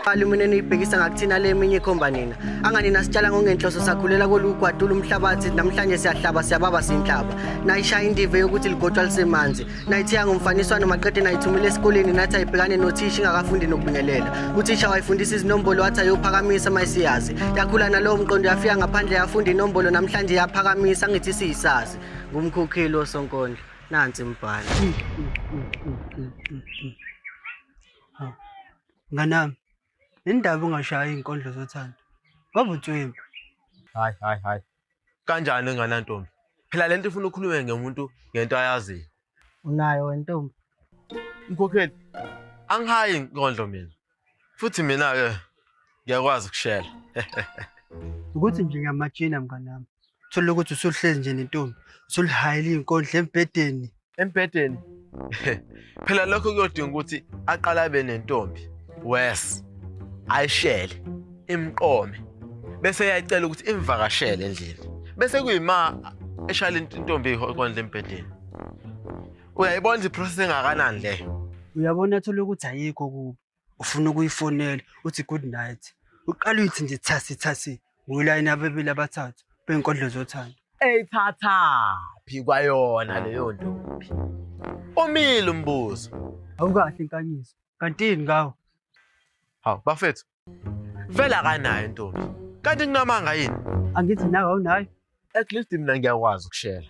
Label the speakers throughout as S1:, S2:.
S1: Alumine niyibhekisa ngakuthina le eminye ikhomba nina anganina sitshala ngongenhloso sakhulela kolugwadula umhlabathi namhlanje siyahlaba siyababa sinhlaba nayishaya indive yokuthi ligotshwa lisemanzi nayithiya ngomfaniswano maqede nayithumela esikoleni nathi ayibhekane nothisha ingakafundi nokubingelela uthisha wayifundisa izinombolo wathi ayophakamisa mayisiyazi yakhula nalowo mqondo yafika ngaphandle yafunda inombolo namhlanje yaphakamisa ngithi siyisazi ngumkhokheli osonkondlo nansi mbhalo
S2: nganami indaba ungashaya izinkondlo zothando ngoba utswembu hayi hayi
S3: hayi kanjani enganantombi phela lento ifuna ukhulume ngemuntu ngento ayaziyo unayo
S1: wentombi mkhokheli
S3: angihayi inkondlo mina futhi mina ke ngiyakwazi ukushela
S2: ukuthi nje ngiyamajina mnganami thola ukuthi usuhlezi nje nentombi usulihayile inkondla embhedeni embhedeni
S3: phela lokho kuyodinga ukuthi aqala abe nentombi wes ayishele imqome bese yayicela ukuthi imvakashele endlini bese kuyima eshala intombi ikondla embhedeni uyayibona nje iprocess engakanani leyo uyabona athole ukuthi
S2: ayikho kubo ufuna ukuyifonela uthi good night uqala uyithi nje thasi thasi ngulayini abebili abathathu bey'nkondlo zothando eyithathaphi
S3: kwayona leyo ntombi umile umbuzo awukahle
S2: inkanyiso kantini ngawo hawu
S3: bafethu Vele akanayo intombi. Kanti kunamanga yini? Angithi nawe awunayo.
S2: At least mina
S3: ngiyakwazi ukushela.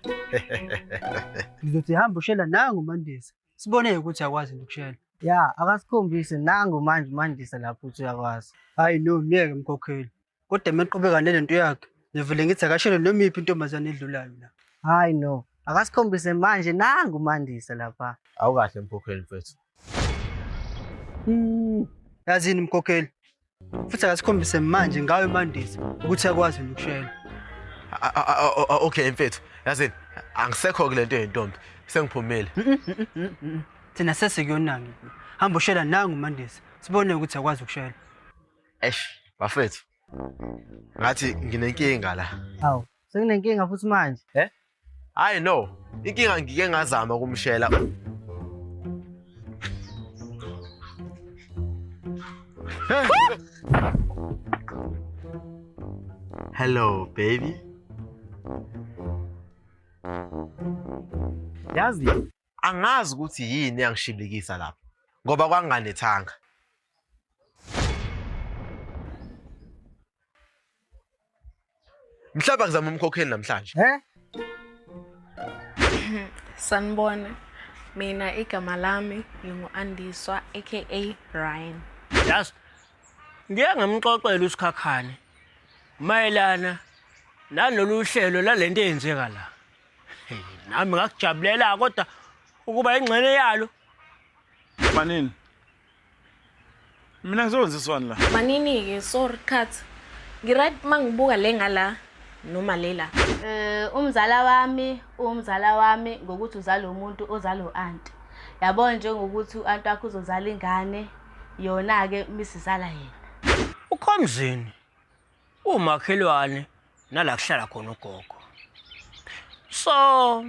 S2: Ngizothi hamba ushela nangu Mandisa. Sibone ukuthi yakwazi ukushela. Ya, akasikhombise
S1: nangu manje uMandisa lapho ukuthi uyakwazi. Hayi no, myeke
S2: mkhokheli. Kodwa meqhubeka nalento yakhe, ngivele ngithi akashele noma iphi intombazane edlulayo la. Hayi no,
S1: akasikhombise manje nangu uMandisa lapha. Awukahle mkhokheli
S3: mfethu.
S2: yazini mkhokheli futhi akasikhombise manje ngayo imandisa ukuthi yakwazi ukushela
S3: okay mfethu yazini angisekho kule nto yentombi sengiphumile
S2: thina sesikuyonangi hamba ushela nangu mandisa sibone ukuthi yakwazi ukushela eish
S3: bafethu ngathi nginenkinga la hawu senginenkinga
S1: futhi manje eh Hayi
S3: no, inkinga ngike ngazama ukumshela. Hello baby. Yazi angazi ukuthi yini yangishibikisa lapho ngoba kwanganethanga mhlawumbe ngizama umkhokheli namhlanje he
S4: sanibona mina igama lami ngingu-andiswa aka ryan yazi
S5: ngiye ngamxoxela usikhakhane mayelana nalolu hlelo lale nto eyenzeka la nami ngakujabulela kodwa ukuba ingxene yalo
S6: manini mina ngizowenziswani la manini-ke sorry
S4: cut ngiright uma ngibuka le ngala noma lela um eh, umzala wami
S7: uwumzala wami ngokuthi uzala umuntu ozala u-anti yabo njengokuthi u-anti wakho uzozala ingane yona-ke misizala yena ukhomzini
S5: umakhelwane nala kuhlala khona ugogo so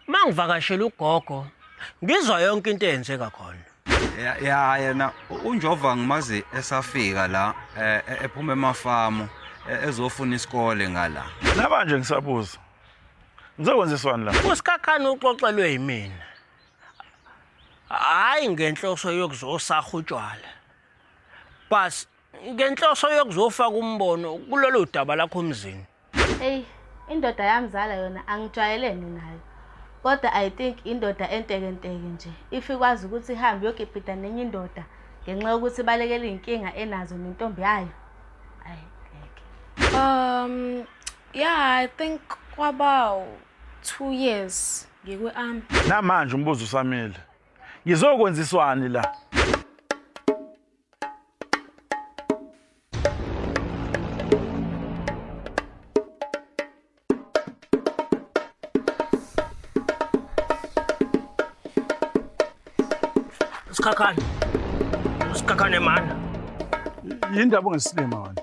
S5: mangivakashela ugogo ngizwa yonke into eyenzeka khona ya ya yena
S8: unjova ngimazi esafika la eh, eh, ephuma emafamu eh, ezofuna isikole ngala namanje ngisabuza
S6: ngizokwenziswani la usikhakhani uxoxelwe
S5: yimina hayi ngenhloso yokuzosaha utshwala bas ngenhloso yokuzofaka umbono kulolu daba lakho mzini eyi
S7: indoda yamzala yona angijwayelene nayo kodwa i think indoda entekenteke nje if ikwazi ukuthi ihambe yokipita nenye indoda ngenxa yokuthi ibalekela iy'nkinga enazo nentombi yayo ayi ngeke um
S4: yeah i think kwaba two years ngikwe-ami namanje umbuzo
S6: usamile ngizokwenziswani la
S5: Usikhakhane. Usikhakhane mana. Yini
S6: ndaba ungesilima wena?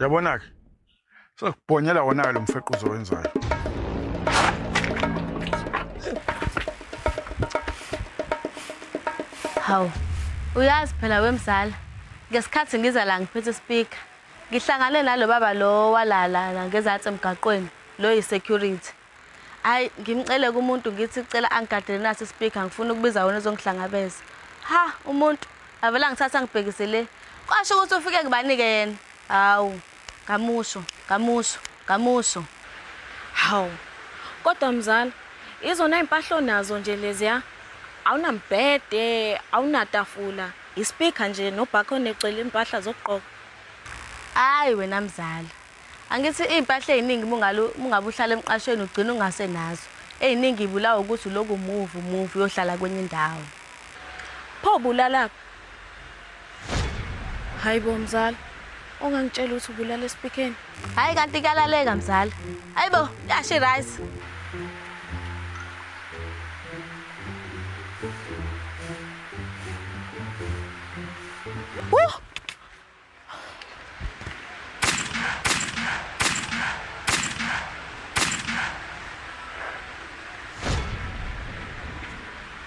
S6: yabona-ke sokubhonyela wona-ke lo mfequzo wenzayo
S7: hawu uyazi phela wemzala ngesikhathi ngiza la ngiphethe ispeaker ngihlangane nalo baba lo walala ngezansi emgaqweni lo yi-security Ay ngimcele kumuntu ngithi cela angigadele nasi speaker ngifuna ukubiza wena uzongihlangabeza. Ha umuntu avela ngithatha ngibhekise le. Kwasho ukuthi ufike kubanike yena. Hawu ngamusho ngamusho ngamusho. Hawu
S4: kodwa mzala izona impahla onazo nje leziya awunambhede awunatafula ispeaker nje nobhakho necela impahla zokugqoka.
S7: Ay wena mzala Angithi iy'mpahla ey'ningi mungabe uhlala emqashweni ugcina ungase nazo. Ey'ningi y'bulawa ukuthi uloku move move uyohlala kwenye indawo. Pho
S4: ubulalaphi? Hhayi bo mzala, ongangitshela ukuthi ubulala esipikeni. Hhayi kanti
S7: kuyalaleka mzala. Hhayi bo, yasho i-rice. Woo!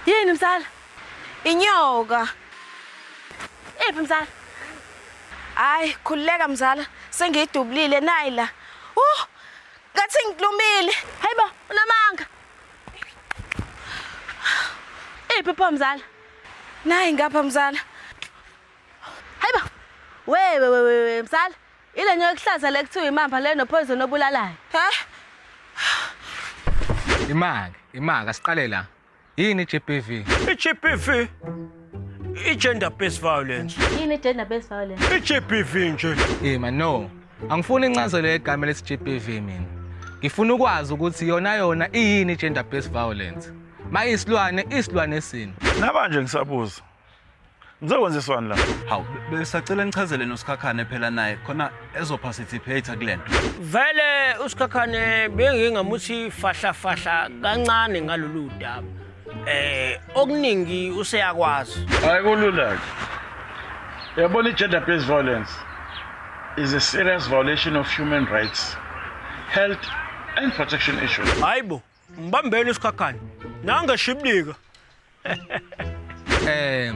S7: Yini msala? Inyoka. Iphi msala?
S4: Hayi, khululeka mzala, sengiyidubulile nayi la. Uh, ngathi ngidlumile. Hayibo,
S7: unamanga. Iphi pho mzala? Nayi ngapha
S4: mzala.
S7: Hayibo. Wewe wewe we, msala. Ile nyoka ekuhlaza le kuthiwa imamba le nopoison obulalayo. He?
S9: Imake, imake asiqale la. Yini GBV? I-GBV i-gender based violence.
S5: Yini
S7: gender based violence? I-GBV
S5: nje. Yima no.
S9: Angifuni incazelo yegama lesi GBV mina. Ngifuna ukwazi ukuthi yona yona iyini gender based violence. Mayisilwane, isilwane sini. Nabanje ngisabuza.
S6: Ngizokwenziswani la? Hawu, besacela
S8: nichazele noSikhakhane phela naye khona ezoparticipate kulento. Vele
S5: uSikhakhane bengingamuthi fahla fahla kancane ngalolu daba. Eh, okuningi useyakwazi. Hayi kulula
S6: ke. Yabona i-gender based violence is a serious violation of human rights, health and protection issues. Hayibo,
S5: Ngibambeni isikhakhane. Nange shiblika.
S9: Eh,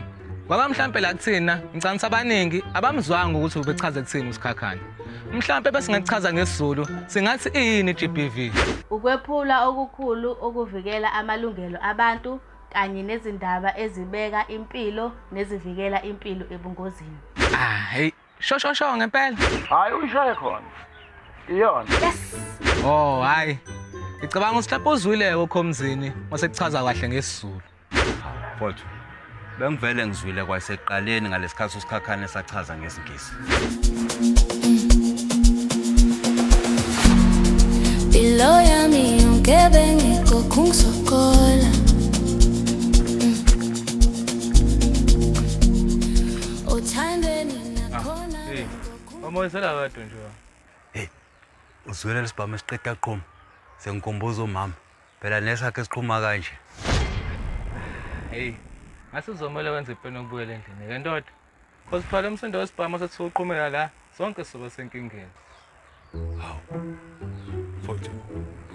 S9: baba mhlampe la kuthina ngicanisa abaningi abamzwanga ukuthi ubechaze kuthina usikhakhane. Mhlampe besingachaza ngesizulu singathi iyini GBV. Ukwephula
S7: okukhulu ukuvikela amalungelo abantu kanye nezindaba ezibeka impilo nezivikela impilo ebungozini. Ah, hey
S9: Sho sho sho ngempela. Hayi uyishaye
S6: khona. Iyona. Yes.
S7: Oh hayi.
S9: Ngicabanga ukuthi lapho uzwile kokhomzini masekuchaza kahle ngesizulu. Mfowethu.
S8: Bengivele ngizwile kwaseqaleni ngalesikhathi usikhakhane esachaza ngesingisi.
S10: Below yami yonke bengikokhu ngisokola Omoyisela
S9: wedwa nje. Hey.
S8: Uzwela lesibhamu esiqeda qhoma. Sengikhumbuza umama. Phela nesakhe siqhuma kanje.
S9: Hey. Ngase uzomela wenze ipeni ukubuyela endlini ke ndoda. Cause phela umsindo wesibhamu sesiqhumela la. Sonke soba senkingeni. Hawu.
S8: Futhi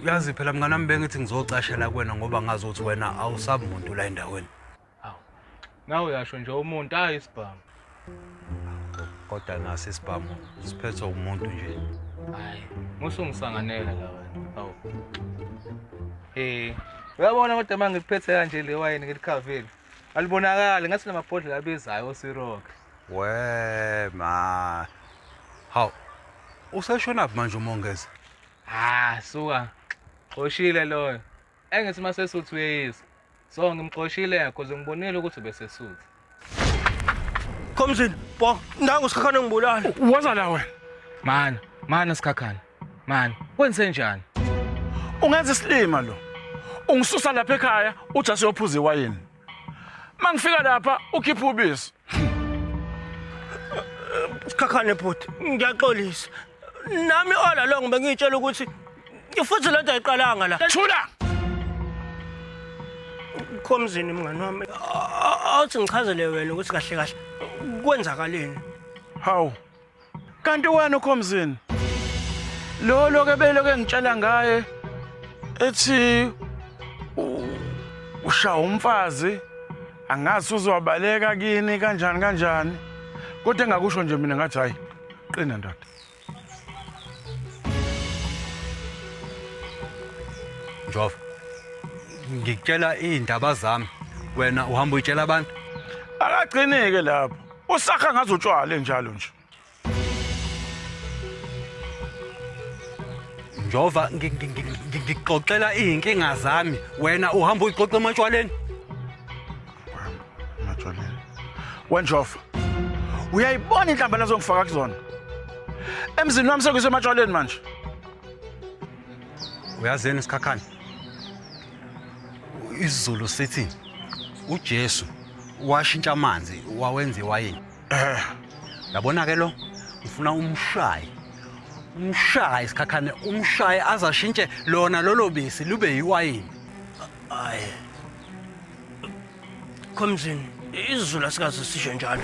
S8: uyazi phela mngane wami bengithi ngizocashela kuwena ngoba ngazi ukuthi wena awusabi muntu la endaweni. Awu.
S9: Nawe uyasho nje umuntu hayi isibhamu.
S8: Kodwa nasi isibhamu siphethwe umuntu nje. Hayi,
S9: musungisanganela la wena. Awu. Eh, uyabona kodwa manje ngiphethe kanje le wayini ngilikhavile. Alibonakali ngathi namabhodlela abezayo osirock. We ma.
S8: Hawu. Usashona phi manje umongeza? Ah,
S9: suka. Xoshile loyo. Engithi uma sesuthi uyeyisa. So ngimxoshile because ngibonile ukuthi besesuthi. Khomzini,
S5: bo, nangu usikhakhane ngibulala. Waza la wena.
S6: Mana, mana sikhakhane.
S9: Mana, kwenze njani? Ungenza
S6: isilima lo. Ungisusa lapha ekhaya, uJasu uyophuza iwayini. Mangifika lapha ukhipha ubisi. Sikhakhane bhuti,
S5: ngiyaxolisa. Nami ola lo ngibe ngitshela ukuthi ifuthi lento ayiqalanga la. Thula. Khomzini mngani wami. Awuthi ngichazele wena ukuthi kahle kahle kwenzakaleni. Hawu.
S6: Kanti wena ukhomzini. Lo loke belo ke ngitshela ngaye ethi usha umfazi angazi uzobaleka kini kanjani kanjani. Kodwa engakusho nje mina ngathi hayi qina ndoda.
S8: Njova. Ngikutshela izindaba zami. Wena uhamba uyitshela abantu. Akagcineke
S6: lapho. Usakha ngazo utshwala enjalo nje.
S8: Njova ngi- ngi- ngi- ngi- ngixoxela izinkinga zami wena uhamba uyixoxa ematshwaleni.
S6: Majolela. Wenjofa. Uyayibona inhlamba lazongifaka kuzona. Emzini wami sekuse ematshwaleni manje.
S8: Uyazeni isikhakhane? Izulu sithi uJesu washintsha amanzi wawenza iwayini Eh, yabona ke lo ngifuna umshaye umshaye isikhakhane umshaye azashintshe lona lolo bisi lube yiwayini Hayi.
S5: Khomzini, izulu asikaze sisho njalo.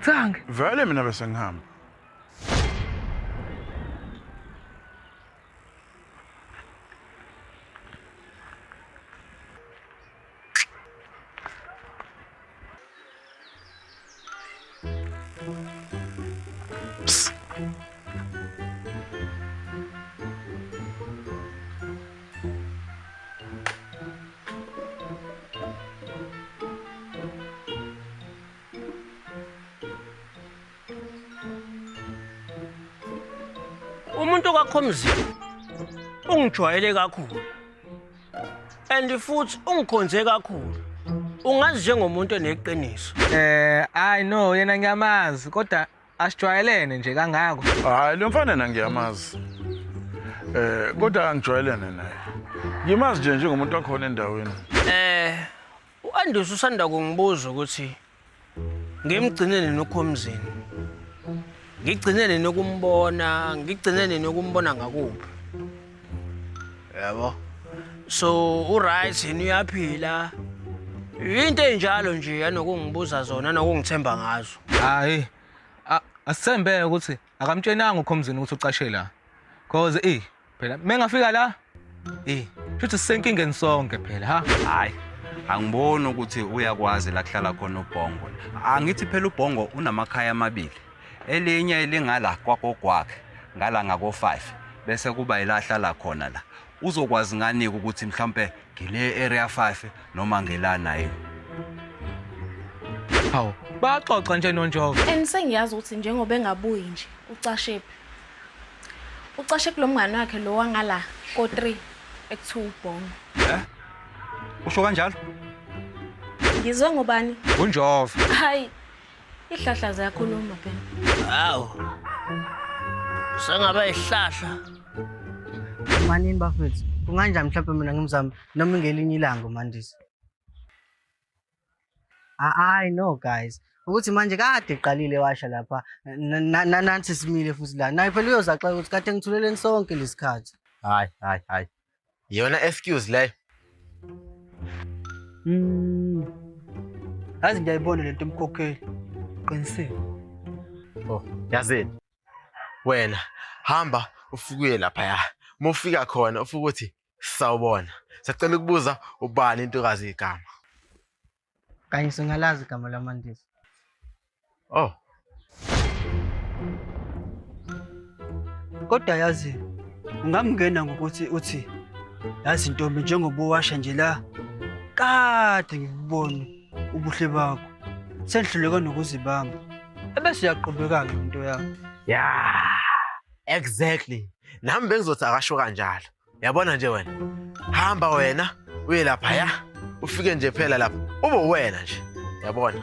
S9: Tsange. Vele mina bese ngihamba.
S5: umuntu okakhomzini ungijwayele kakhulu and futhi ungikhonze kakhulu ungazi njengomuntu oneqiniso Eh, hayi
S9: no yena ngiyamazi kodwa asijwayelene nje kangako. Hayi lo mfana na
S6: ngiyamazi. Eh kodwa angijwayelene naye. Ngimazi nje njengomuntu wakhona endaweni. eh
S5: U-Andus usanda kungibuza ukuthi ngimgcine nini uKhomzini. Ngigcine nini ukumbona, ngigcine nini ukumbona ngakuphi. Yabo. So uright yini uyaphila? Into enjalo nje yanokungibuza zona nokungithemba ngazo. Hayi.
S9: a- Asithembeke ukuthi Akamtshenanga uKhomzini ukuthi ucashe la. Cause eh phela mengafika la eh futhi sisenkingeni sonke phela ha. Hayi.
S8: Angiboni ukuthi uyakwazi la kuhlala khona uBhongo. Angithi phela uBhongo unamakhaya amabili. Elinye elingala kwakogwakhe, ngala ngako 5 bese kuba ilahlala khona la. uzokwazi nganike ukuthi mhlawumpe ngile area 5 noma ngelana yini
S9: hawu baxoxa nje nonjova and sengiyazi ukuthi njengoba
S4: engabuyi nje ucashephi ucashe kulo mngane wakhe lo wangala ko-3 ekuthiwa ubhongo eh
S8: usho kanjalo
S4: ngizwe ngobani unjova
S9: hayi
S4: Ihlahla ziyakhuluma phela.
S5: Hawu. Sengaba ihlahla.
S1: Manini bafethu, kunganjani mhlawumbe mina ngimzama noma ingelinye ilanga uMandisa? Hayi no guys. Ukuthi manje kade iqalile washa lapha nanansi simile futhi la. Naye phela uyozaxela ukuthi kade ngithuleleni sonke lesikhathi. Hayi hayi hayi.
S3: Yona excuse leyo. Mm.
S2: Yazi ngiyayibona lento umkhokheli. Qinisile.
S3: Oh, yazini. Wena hamba ufukuye lapha ya. Mufika khona ufukuthi sawubona. Sacela ukubuza ubani intokazi igama.
S1: Kanye singalazi igama laMandisa.
S3: Oh.
S2: Kodwa yazi ungamngena ngokuthi uthi yazi ntombi njengoba uwasha nje la kade ngikubona ubuhle bakho sengihluleka nokuzibamba ebese uyaqhubeka-ke into yakho Yeah.
S3: Exactly. Nami bengizothi akasho kanjalo. yabona nje wena hamba wena uye lapha ya ufike nje phela lapha ube wena nje yabona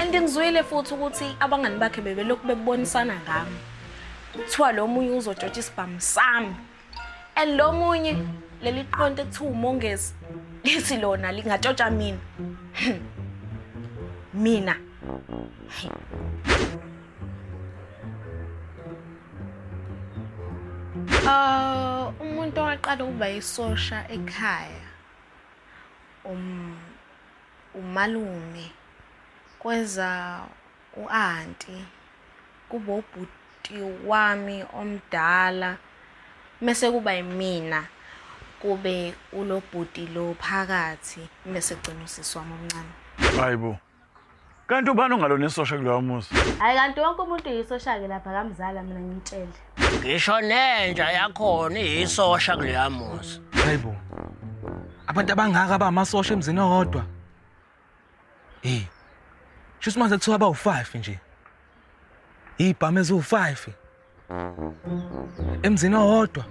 S4: and ngizwile futhi ukuthi abangani bakhe bebelokhu bebonisana ngami kuthiwa lo munye uzotshotsha isibhamu sami and lo munye leli qonto ekuthiwa umongezi lithi lona lingatshotsha mina mina Uh, umuntu owaqala ukuba isosha ekhaya um umalume kweza uanti kubo ubhuti wami omdala mese kuba imina kube ulobhuti lo phakathi mese gcina usisi wami omncane hayibo
S6: Kanti ubani ongalona isosha kuloya muzi? Hayi kanti wonke umuntu
S7: yisosha-ke lapha kamzala mina ngimtshele. Ngisho
S5: nenja yakhona iyisosha kuleya muzi. Hayibo.
S9: Abantu abangaka abamasosha emzini owodwa. Hey. Shuthi manje kuthiwa bawu-5 nje. Ibhamu eziwu-5. emzini owodwa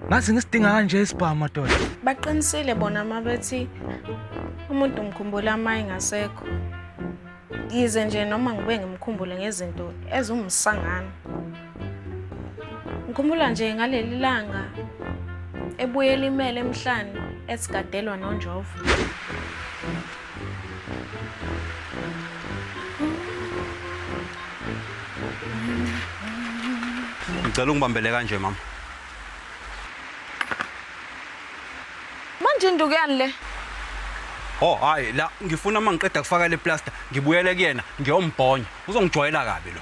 S9: ngathi ngisidinga kanje isibhamu madoda baqinisile bona
S4: mabethi umuntu umkhumbula uma engasekho yize nje noma ngibe ngimkhumbule ngezinto ezumsangano ngikhumbula nje ngaleli langa ebuyela imele emhlane esigadelwa nonjovo
S8: ngicela ungibambele kanje mama
S4: manje indukuyani le Oh
S8: hayi la ngifuna mangiqeda kufaka le plaster ngibuyele kuyena ngiyombhonya uzongijwayela kabi lo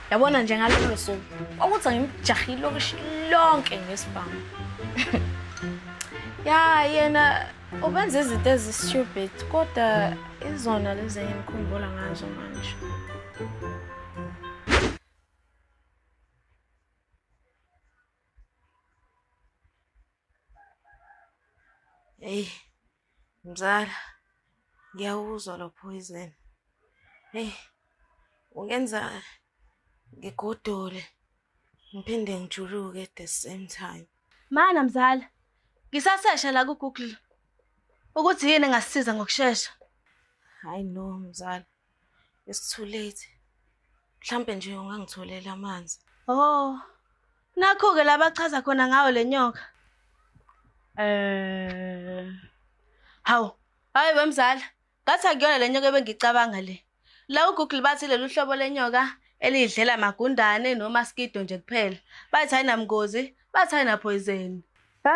S4: yabona nje ngalolo suku kwakuthi ngimjahile ilokishi lonke ngesibhamu ya yena ubenza izinto ezistupid kodwa izona lezi engimkhumbula ngazo manje Hey. Mzala, ngiyawuzwa lo poison. Eyi, ungenza ngigodole ngiphinde ngijuluke at the same time. Mana mzala,
S7: ngisasesha la ku-Google ukuthi yini engasisiza ngokushesha. Hayi
S4: no mzala. It's too late. Mhlambe nje ungangitholela amanzi. Oh.
S7: Nakho ke labachaza khona ngawo lenyoka. Eh. Hawu. Hayi wemzala. Ngathi akuyona lenyoka ebengicabanga le. La uGoogle bathi lolu hlobo lenyoka elidlela magundane nomaskido nje kuphela. Bathi ayinamngozi, bathi ayinapoison. Ha?